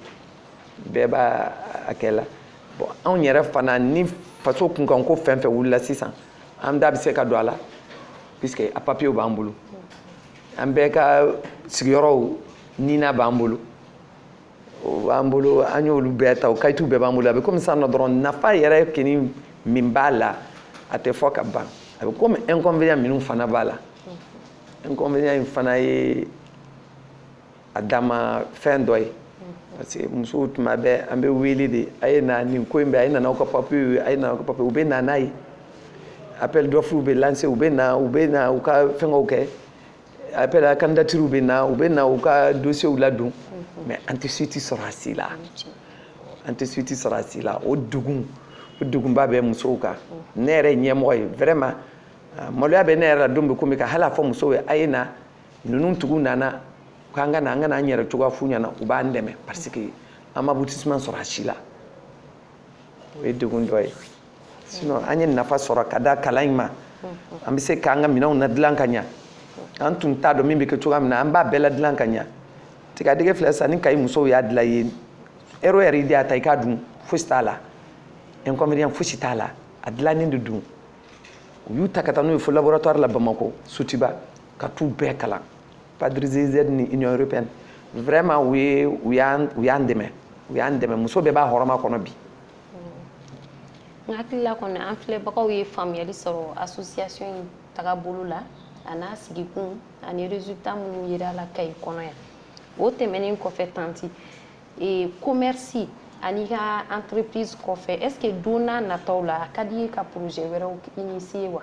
bɛɛ b'a a kɛla bon anw yɛrɛ fana ni faso kunkanko fɛn fɛn wulila sisan an da bɛ se ka don a la puisque a papiyew b'an bolo an bɛɛ ka sigiyɔrɔw nina b'an bolo o b'an bolo an y'olu bɛɛ ta o kayitiw bɛɛ b'an bolo a bɛ komi sisan nɔ dɔrɔn nafa yɛrɛ kini min b'a la a tɛ fɔ ka ban a bɛ komi inconvénient minnu fana b'a la inconvénient in fana ye a dama fɛn dɔ ye parce que musow tuma bɛɛ an bɛ wele de a ye na nin ko in bɛ a ye na n'aw ka papiyew ye a ye na n'aw ka papiyew u bɛ na n'a ye appel d'offre bɛ lancer u bɛ na u bɛ na u ka fɛngɛw kɛ appel à candidature bɛ na u bɛ na u ka dossiers ladon mais an tɛ suite sɔrɔ a si la an tɛ suite sɔrɔ a si la o degun o degunba bɛ musow kan ne yɛrɛ ye ɲɛmɔgɔ ye vraiment maloya bɛ ne yɛrɛ la don bɛɛ komi ka hali a fɔ musow ye a ye na ninnu tigiw nana k'an ka na an ka na an yɛrɛ cogoya f'u ɲɛna u b'an dɛmɛ parce que an ma aboutissement sɔrɔ a si la o ye degun dɔ ye sinon an ye nafa sɔrɔ ka da kalan in ma an bɛ se k'an ka minɛnw ladilan ka ɲa an tun t'a dɔn min bɛ kɛ cogoya min na an b'a bɛɛ ladilan ka ɲa tigadɛgɛ filɛ sisan ni kayi musow y'a dilan ye ɛri o ɛri i de y'a ta i k'a dun fosi t'a la inconvénient fosi t'a la a dilannen de don u y'u ta ka taa n'u ye fo laboratoire la bamakɔ sotuba ka t'u bɛɛ kalan padre giz ni union européenne vraiment u ye u y'an u y'an dɛmɛ u y'an dɛmɛ muso bɛɛ b'a hɔrɔma kɔnɔ bi n hakilila kɔni an filɛbagaw ye faamuyali sɔrɔ association in tagabolo la a n'a sigikun ani résultat minnu yera la kayi kɔnɔ yan o tɛmɛnen kɔfɛ tanti e, commerce an'i ka entreprise kɔfɛ est ce que don n'a nataw la a ka d'i ye ka projet wɛrɛw initier wa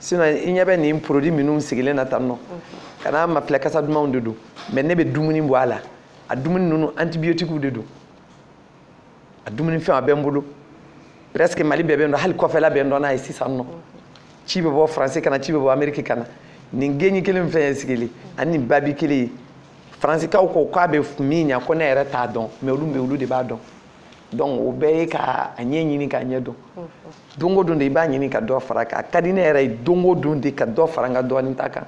sinon i ɲɛ bɛ nin produit minnu sigilen na tan nɔ ka n'a mafilɛ kasa dumanw de don mais ne bɛ dumuni bɔ a la a dumuni ninnu antibiotiques de don a dumuni fɛn a bɛ n bolo presque mali bɛɛ bɛ n dɔn hali kɔfɛla bɛ n dɔn n'a ye sisan nɔ ci bɛ bɔ faransi ka na ci bɛ bɔ ameriki ka na nin geni kelen fɛn ye sigili ani nin babi kelen ye faransikaw ko k'a bɛ min ɲa ko ne yɛrɛ t'a dɔn mais olu bɛ olu de b'a dɔn donc o bɛɛ ye ka a ɲɛ ɲini k'a ɲɛ dɔn don o don de i b'a ɲini ka dɔ fara kan a ka di ne yɛrɛ ye don o don de ka dɔ fara n ka dɔnta kan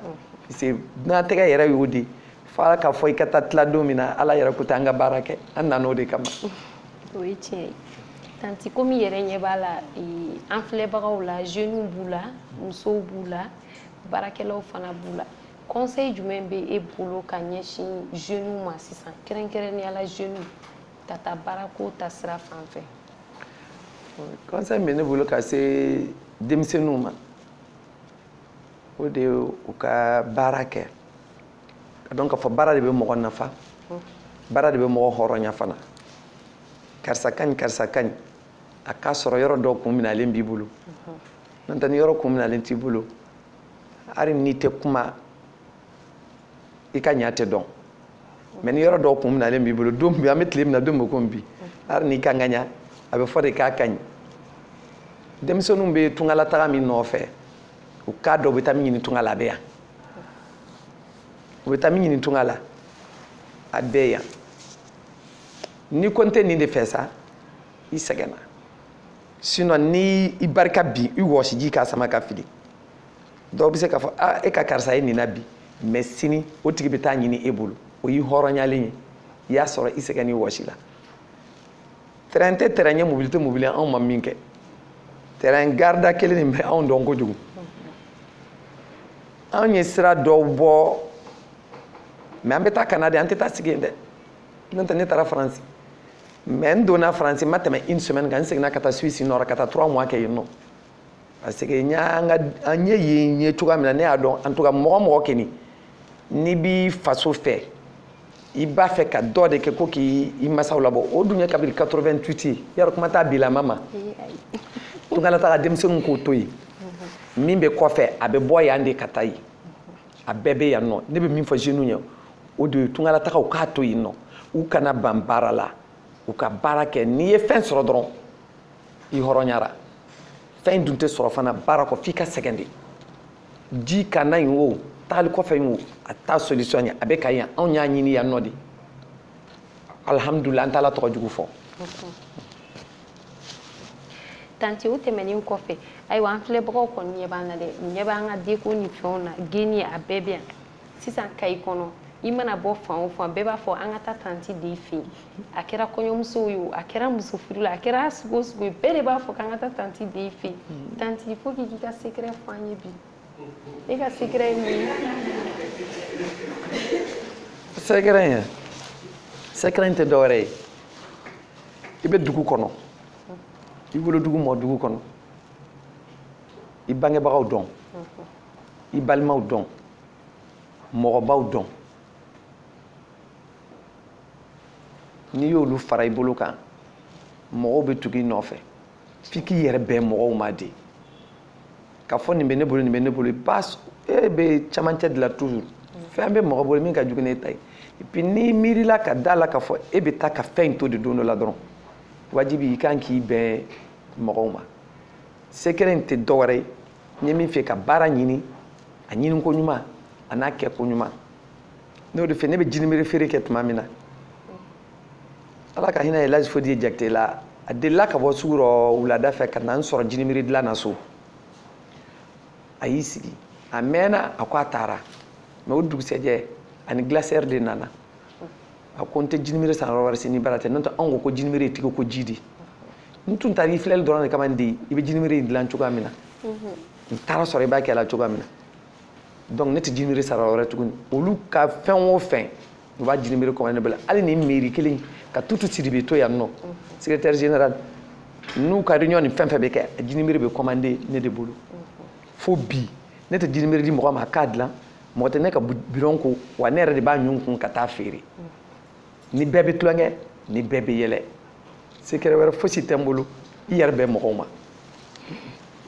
parce que dunatɛgɛ yɛrɛ y'o de ye fo ala k'a fɔ i ka taa tila don min na ala yɛrɛ ko ten an ka baara kɛ an nana o de kama o ye tiɲɛ ye tanti komi i yɛrɛ ɲɛ b'a la an filɛbagaw la jeunes b'u la musow b'u la baarakɛlaw fana b'u la conseil jumɛn bɛ e bolo ka ɲɛsin jeunes ma sisan kɛrɛnkɛrɛnnenya la jeunes ka taa baara ko ta sira fan fɛ conseil bɛ ne bolo ka se denmisɛnninw ma o de ye u ka baara kɛ ka dɔn k'a fɔ baara de bɛ mɔgɔ nafa baara de bɛ mɔgɔ hɔrɔnya fana karisa ka ɲi karisa ka ɲi a k'a sɔrɔ yɔrɔ dɔ kun minalen b'i bolo n'o tɛ ni yɔrɔ kun minalen t'i bolo hali n'i tɛ kuma i ka ɲa tɛ dɔn mais ni yɔrɔ dɔ kun minalen b'i bolo don bi an bɛ tile min na don bɛ komi bi hali n'i ka ŋaɲa a bɛ fɔ de k'a ka ɲi denmisɛnninw bɛ tungalataga min nɔfɛ u k'a dɔn u bɛ taa min ɲini tunga la a bɛ yan u bɛ taa min ɲini tunga la a bɛ yan ni ko n tɛ nin de fɛ sa i sɛgɛnna sinon ni i barika bi i wɔsiji k'a sama ka fili dɔw bɛ se k'a fɔ a e ka karisa ye nin na bi mais sini o tigi bɛ taa ɲini e bolo o y'i hɔrɔnyalen ye i y'a sɔrɔ i sɛgɛn n'i wɔsi la terrain tɛ terrain ye mobili tɛ mobili anw ma min kɛ terrain garida kelen nin bɛ anw dɔn kojugu anw ye sira dɔw bɔ mais an bɛ taa ka na de an tɛ taa sigi yen dɛ n'o tɛ ne taara faransi mais n donna faransi n ma tɛmɛ une semaine kan n seginna ka taa suisse nɔrɔ ka taa trois mois kɛ yen nɔ parce que an ye yen ye cogoya min na ne y'a dɔn en tout cas mɔgɔ mɔgɔ kɛni n'i b'i faso fɛ i b'a fɛ ka dɔ de kɛ ko k'i masaw labɔ o dun ye kabiri 88 ye yarɔ kuma t'a bilama ma tungalataga denmisɛnninw k'o to yen min bɛ kɔfɛ a bɛ bɔ yan de ka taa yen a bɛɛ bɛ yan nɔ ne bɛ min fɔ jeunes ye o de ye tungalatagaw k'a to yen nɔ u kana ban baara la u ka baara kɛ n'i ye fɛn sɔrɔ dɔrɔn i hɔrɔnyara fɛn dun tɛ sɔrɔ fana baara kɔ f'i ka sɛgɛn de ji ka na yen o taali kɔfɛ yen o a t'a solution ye a bɛ kayi yan anw y'a ɲini yan nɔ de alihamudulilayi an t'ala tɔgɔ jugu fɔ tanti o tɛmɛnen kɔfɛ ayiwa an filɛbagaw kɔni ɲɛ b'an na dɛ ɲɛ b'an ka deko ni fɛnw na geni a bɛɛ bɛ yan sisan kayi kɔnɔ i mana bɔ fan o fan bɛɛ b'a fɔ an ka taa tanti de fɛ yen a kɛra kɔɲɔmusow ye o a kɛra muso furu la a kɛra sugu o sugu ye bɛɛ de b'a fɔ k'an ka taa tanti de fɛ yen hmm. tanti fo k'i k'i ka secret fɔ an ye bi e ka secret ye mun ye. secret in secret in tɛ dɔwɛrɛ ye i bɛ dugu kɔnɔ i wolodugu mɔ dugu kɔnɔ i bangebagaw dɔn. i balimaw dɔn mɔgɔbaw dɔn n'i y'olu fara i bolo kan mɔgɔw bɛ tugu i nɔfɛ f'i k'i yɛrɛ bɛn mɔgɔw ma de ka fɔ nin bɛ ne bolo nin bɛ ne bolo e bɛ camancɛ de la toujours fɛn bɛ mɔgɔ bolo min ka jugu n'e ta ye et puis n'i miirila ka d'a la ka fɔ e bɛ taa ka fɛn in to de don dɔ la dɔrɔn wajibi i kan k'i bɛn mɔgɔw ma sekɛrɛ in tɛ dɔwɛrɛ ye n ye min fɛ ka baara ɲini a ɲini ko ɲuman an'a kɛ ko ɲuman n'o de fɛ ne bɛ jinimere feere kɛ tuma min na ala ka hinɛ elaji fodiye jakite la a delila ka bɔ sugu rɔ wulada fɛ ka na n sɔrɔ jinimere dilan na so a y'i sigi a mɛɛna a ko a taara mɛ o dugusɛjɛ a ni gilasɛri de nana a ko n tɛ jinimere san yɔrɔ wɛrɛ si n'i bara tɛ n'o tɛ anw ko ko jinimere ye tɛgɛ ko ji de n tun taara i filɛli dɔrɔn de kama n den i bɛ jinimere in dilan cogoya min na n taara sɔrɔ i b'a kɛ la cogoya min na donc ne tɛ jinimere san yɔrɔ wɛrɛ tuguni olu ka fɛn o fɛn u b'a jinimere commande ne bolo hali ni mairie kelen ka tutu sidibe to yan nɔ secrétaire général n'u ka réunion ni fɛn fɛn bɛ kɛ jinimere bɛ commande ne de bolo fo bi ne tɛ jinimere di mɔgɔ ma a k'a dilan mɔgɔ tɛ ne ka bidɔn ko wa ne yɛrɛ de b'a ɲun kun ka taa feere ni bɛɛ bɛ tulonkɛ ni bɛɛ bɛ yɛlɛ sekɛrɛ wɛrɛ fosi tɛ n bolo i yɛrɛ bɛn mɔgɔw ma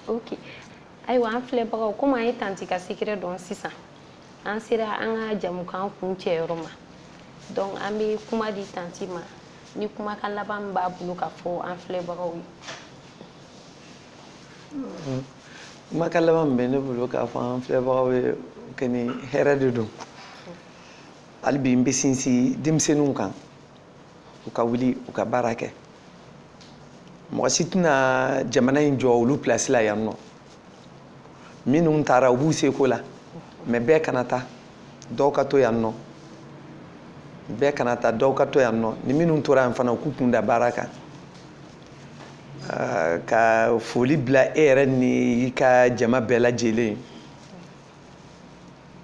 ok ayiwa an filɛbagaw komi an ye tanti ka sekɛrɛ dɔn sisan an sera an ka jɛmukan kuncɛyɔrɔ ma donc an bɛ kuma di tanti ma ni kumakan laban min b'a bolo k'a fɔ an filɛbagaw ye kumakan laban min bɛ ne bolo k'a fɔ an filɛbagaw ye kɛ ni hɛrɛ de don hali bi n bɛ sinsin denmisɛnninw kan u ka wuli u ka baara kɛ mɔgɔ si tɛna jamana in jɔ olu pilasi la yan nɔ minnu taara u b'u seko la mɛ bɛɛ kana taa dɔw ka to yan nɔ bɛɛ kana taa dɔw ka to yan nɔ ni minnu tora yan fana u k'u kun da baara kan Ah, ka foli bila e yɛrɛ ni i ka jama bɛɛ lajɛlen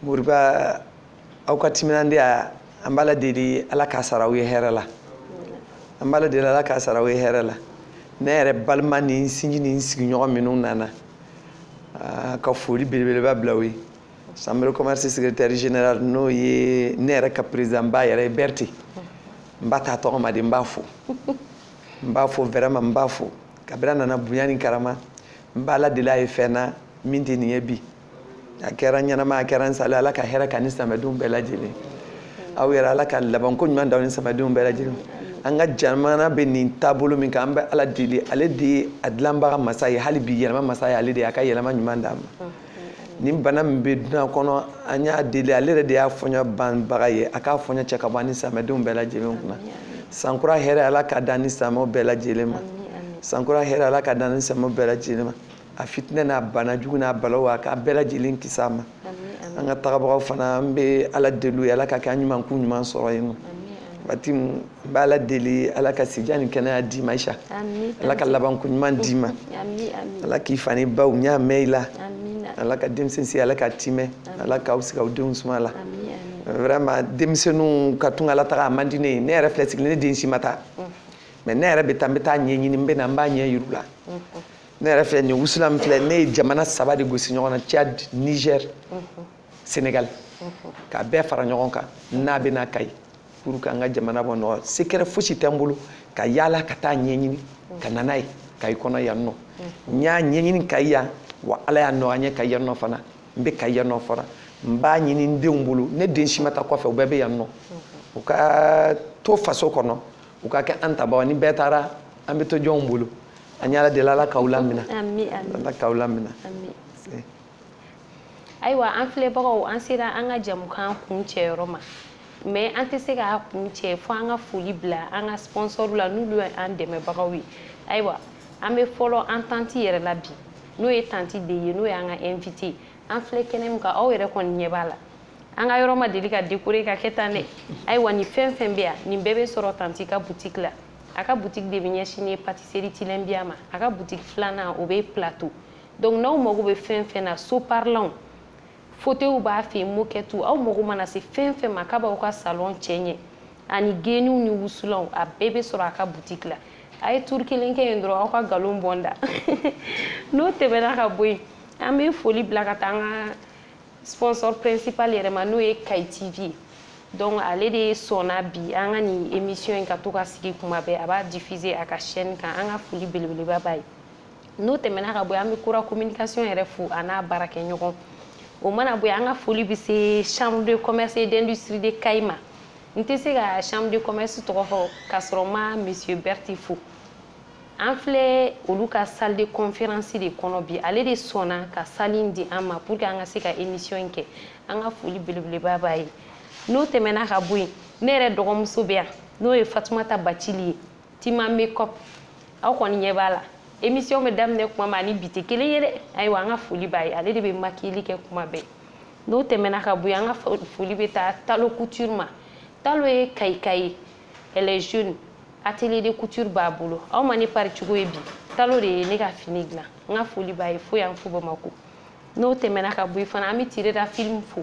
moriba aw ka timinandiya an b'ala deli ala k'a sara aw ye hɛrɛ la an b'ala deli ala k'a sara aw ye hɛrɛ la ne yɛrɛ balima ni n sinji ni n sigiɲɔgɔn minnu nana ah, ka foli belebeleba bila u ye chambre commerce secrétaire général n'o ye ne yɛrɛ ka président ba yɛrɛ ye bɛrɛte n b'a t'a tɔgɔ ma de n b'a fo n b'a fo vraiment n b'a fo kabiri a nana bonya ni karama n b'ala deli a ye fɛn na min tɛ nin ye bi a kɛra ɲɛnama a kɛra n salen ala ka hɛrɛ k'a ni samadenw bɛɛ lajɛlen aw yɛrɛ ala ka labanko ɲuman d'aw ni samadenw bɛɛ lajɛlen an ka jamana bɛ nin taabolo min kan an bɛ ala deli ale de ye a dilanbaga masa ye hali bi yɛlɛma masa ye ale de ye a ka yɛlɛma ɲuman d'a ma ni bana min bɛ duɲa kɔnɔ an y'a deli ale yɛrɛ de y'a fɔɲɔ banbaga ye a k'a fɔɲɔ cɛ ka bɔ an ni silamɛdenw bɛɛ lajɛlen kunna sankura hɛrɛ ala k'a d'an ni silamɛw bɛɛ lajɛlen ma sankura hɛrɛ ala k'a d'an ni silamɛw bɛɛ lajɛlen ma a fitinɛ n'a bana jugu n'a balaw a k'an bɛɛ lajɛlen kisi a ma an ka tagabagaw fana an bɛ ala deli u ye ala k'a kɛ an ɲuman k'u ɲuman sɔrɔ yen nɔ waati n b'ala deli ala ka sijan ni kɛnɛya d'i ma isa ala ka labanko ɲuman d'i ma ala k'i fa n'i ba ɲɛ mɛn i la ala ka denmisɛn si ala k'a timɛ ala k'aw sigi aw denw suma la vraiment denmisɛnninw ka tunga la taga a man di ne ye ne yɛrɛ filɛ sigilen ne den si ma taa mais ne yɛrɛ bɛ taa n bɛ taa ɲɛɲini n bɛ na n b'a ɲɛ yir'u la ne yɛrɛ filɛ nin wusulan min filɛ ne ye jamana saba de gosi ɲɔgɔn na tchad niger senegali k'a bɛɛ fara ɲɔgɔn kan n'a bɛ na kayi pour que an ka jamana bɔ nɔgɔ secret fosi tɛ n bolo ka yaala ka taa ɲɛɲini ka na n'a ye kayi kɔnɔ yan nɔ n y'a ɲɛɲini kayi yan wa ala y'a nɔgɔya n ye kayi yan nɔ fana n bɛ kayi yan nɔ fana n b'a ɲini n denw bolo ne den si ma taa kɔfɛ u bɛɛ bɛ yan nɔ u ka to faso kɔnɔ u ka kɛ an tabaw ni bɛɛ taara an bɛ to jɔnw bolo an y'ala deli ala k'aw lamina ala k'aw lamina ayiwa an filɛbagaw an sera an ka jamukan kuncɛ yɔrɔ ma mais an tɛ se k'a kuncɛ fo an ka foli bila an ka sponsorw la n'olu ye an dɛmɛbagaw ye ayiwa an bɛ fɔlɔ an tanti yɛrɛ la bi n'o ye tanti de ye n'o y'an ka invité an filɛ kɛnɛ min kan aw yɛrɛ kɔni ɲɛ b'a la an ka yɔrɔ ma deli ka dekore ka kɛ tan dɛ ayiwa nin fɛn fɛn bɛ yan nin bɛɛ bɛ sɔrɔ tanti ka butiki la a ka butiki de bɛ ɲɛsinnen pâtisserie tilɛnbiya ma a ka butiki filanan o bɛ plateau donc n'aw mago bɛ fɛn fɛn na so parilanw fauteuilw b'a fɛ yen moquette aw mago mana se fɛn fɛn ma k'a b'aw ka salon cɛɲɛ ani geniw ni wusulanw a bɛɛ bɛ sɔrɔ a ka butiki la a ye tour kelen kɛ yen dɔrɔn aw ka nkalon bɔ n da n'o tɛmɛna ka bɔ yen an bɛ foli bila ka taa an ka sponsor principal yɛrɛ ma n'o ye kayi tv ye donc ale de sɔnna bi an ka nin émission in ka to ka sigi kuma bɛɛ a b'a diffuser a ka chaîne kan an ka foli belebeleba b'a ye n'o tɛmɛna ka bɔ yen an bɛ kura communication yɛrɛ fo a n'a baarakɛɲɔgɔn o mana bɔ yen an ka foli bɛ se chambre de commerce et d'industrie de kayi ma n tɛ se ka chambre de commerce tɔgɔ fɔ k'a sɔrɔ n ma monsieur berthé fo an filɛ olu ka salle de conférence de kɔnɔ bi ale de sɔnna ka salle in di an ma pour que an ka se ka émission in kɛ an ka foli belebeleba b'a ye n'o tɛmɛna ka bɔ yen ne yɛrɛ dɔgɔmuso bɛ yan n'o ye fatumata bacili ye tima makeup aw kɔni ɲɛ b'a la émission bɛ daminɛ kuma min na ni bi tɛ kelen ye dɛ ayiwa an ka foli b'a ye ale de bɛ makiyeli kɛ kuma bɛɛ n'o tɛmɛna ka bɔ yen an ka foli bɛ taa talo couture ma talo ye kayika ye elle est jeune atelier de couture b'a bolo aw ma ne pari cogo ye bi talo de ye ne ka fini dilan n ka foli b'a ye fo yan fo bamakɔ n'o tɛmɛna ka bɔ yen fana an bɛ tirera film fo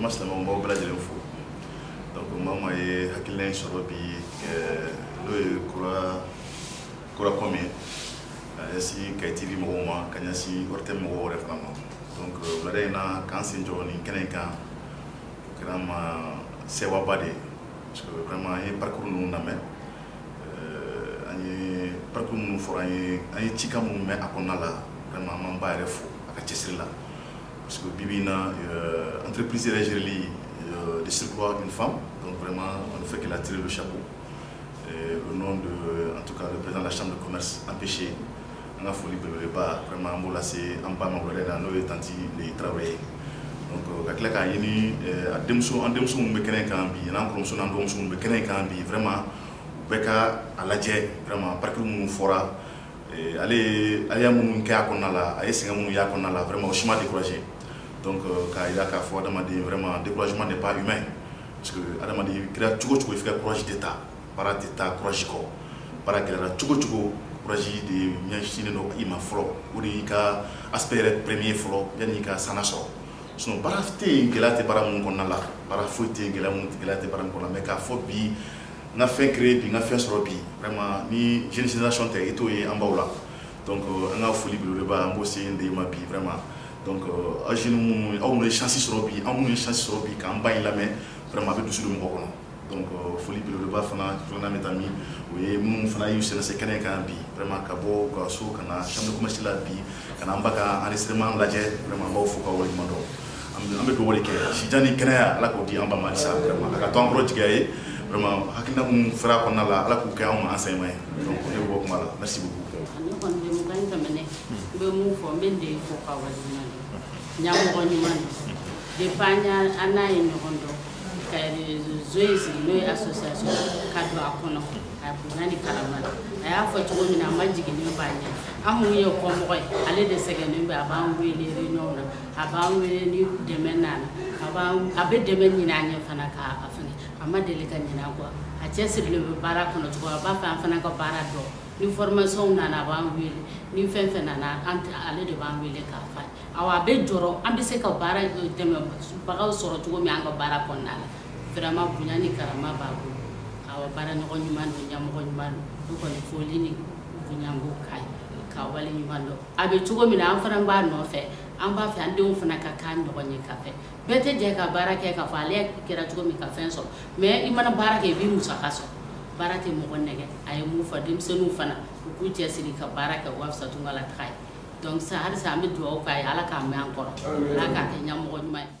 jama silamɛw b'aw bɛɛ lajɛlen fo donc maa o maa ye hakilina in sɔrɔ bi n'o ye kura com ye ka ɲɛsin kayi TV mɔgɔw ma ka ɲɛsin ORTM mɔgɔw yɛrɛ fana ma donc wulada in na k'an sen jɔ nin kɛnɛ in kan o kɛra an ma sewaba de ye parce que vraiment an ye parcours ninnu lamɛn an ye parcours minnu fɔra an ye an ye cikan minnu mɛn a kɔnɔna la vraiment an b'an ba yɛrɛ fo a ka cɛsiri la parce que bibi in na euh, entreprise yɛrɛ gereli euh, de surcroît une femme donc vraiment on ne fait que la tirer le chapeau Et au nom de en tout cas le président de la chambre de commerce empêché an ka foli belebeleba vraiment an b'o lase an ba ma wɛrɛ la n'o ye tanti ndeye tarawele ye donc euh, ka tila k'a ɲini euh, a denmuso an denmuso minnu bɛ kɛnɛ kan bi n'an kɔrɔmuso n'an dɔgɔmuso minnu bɛ kɛnɛ kan bi vraiment u bɛɛ ka a lajɛ vraiment parcours minnu fɔra ale ye a y'a minnu kɛ a kɔnɔna la a ye sɛgɛn minnu y'a kɔnɔna la vraiment o si m'a décourager donc euh, k'a jira k'a fɔ adamaden vraiment découragement n'est pas humain parce que adamaden i kɛra cogo o cogo i f'i ka courage de ta baara tɛ taa courage kɔ baara gɛlɛyara cogo o cogo courage de ɲɛsinnen don i ma fɔlɔ o de y'i ka aspect yɛrɛ premier fɔlɔ yanni i ka sana sɔrɔ sinon baara tɛ yen gɛlɛya tɛ baara minnu kɔnɔna la baara foyi tɛ yen gɛlɛya minnu gɛlɛya tɛ baara minnu kɔnɔna mais k'a fɔ bi n ka fɛn créer bi n ka fɛn sɔrɔ bi vraiment ni jeune génération tɛ i t'o ye an baw la donc euh, an ka foli belebeleba an b'o se ndeye ma bi vraiment donc euh, aw jeunes minnu aw minnu ye chance sɔrɔ bi aw minnu ye chance sɔrɔ bi k'an ba in lamɛn vraiment a bɛ dusu don mɔgɔ kɔnɔ donc euh, foli belebeleba fana filanan bɛ taa min o ye minnu fana y'u sɛnɛsɛ kɛnɛ kan bi vraiment ka bɔ u ka so ka na chambre de commerce la bi ka na an ba ka enregistrement lajɛ vraiment an b'aw fo k'aw waleɲuman dɔn an bɛ dugawu de kɛ sijan ni kɛnɛya ala k'o di an ba ma halisa vraiment a ka to an kɔrɔ jigiya ye vraiment hakilina minnu fɔra a kɔnɔna la ala k'u kɛ anw ma enseignement ye donc ne bɛ bɔ kuma la merci beaucoup ne kɔni bɛ mugan in tɛmɛnɛ n bɛ mun fɔ n bɛ ndeye fo k'a waleɲuman dɔn ɲɛmɔgɔ ɲuman don depuis an y'a an n'a ye ɲɔgɔn dɔn ka réseau in sigi n'o ye association ka don a kɔnɔ a bonya ni karama la a y'a fɔ cogo min na a majiginnen b'an ɲɛ an minnu ye kɔmɔgɔ ye ale de sɛgɛnnen bɛ a b'an wele réunion na a b'an wele ni dɛmɛ nana a b'an a bɛ dɛmɛ ɲini an ye fana k'a a fɛngɛ a ma deli ka ɲinɛ an kɔ a cɛsirilen bɛ baara kɔnɔ cogo a b'a fɛ an fana ka baara dɔn ni formation nana a b'an wele ni fɛn fɛn nana an ale de b'an wele k'a fɔ awɔ a bɛ jɔrɔ an bɛ se ka baara dɛmɛbagaw sɔrɔ cogo min an ka baara kɔnɔna la vraiment bonya ni karama b'a bolo awɔ baaraɲɔgɔn ɲuman don ɲɛmɔgɔ ɲuman don ne kɔni foli ni bonya b'o k'a ye k'a waleɲuman dɔn a bɛ cogo min na an fana b'a nɔfɛ an b'a fɛ an denw fana ka k'a ɲɔgɔn ye ka fɛ bɛɛ tɛ jɛ ka baara kɛ k'a fɔ ale kɛra cogo min ka fɛn sɔrɔ mais i mana baara kɛ i b'i musaka sɔrɔ baara tɛ mɔgɔ nɛgɛ a ye mun fɔ denmisɛnninw fana u k'u cɛsiri ka baara kɛ o ka fisa tunga la taga ye donc sa halisa an bɛ dugawu k'a ye ala k'a mɛɛn an kɔrɔ ala k'a kɛ ɲɛmɔgɔ ɲuman ye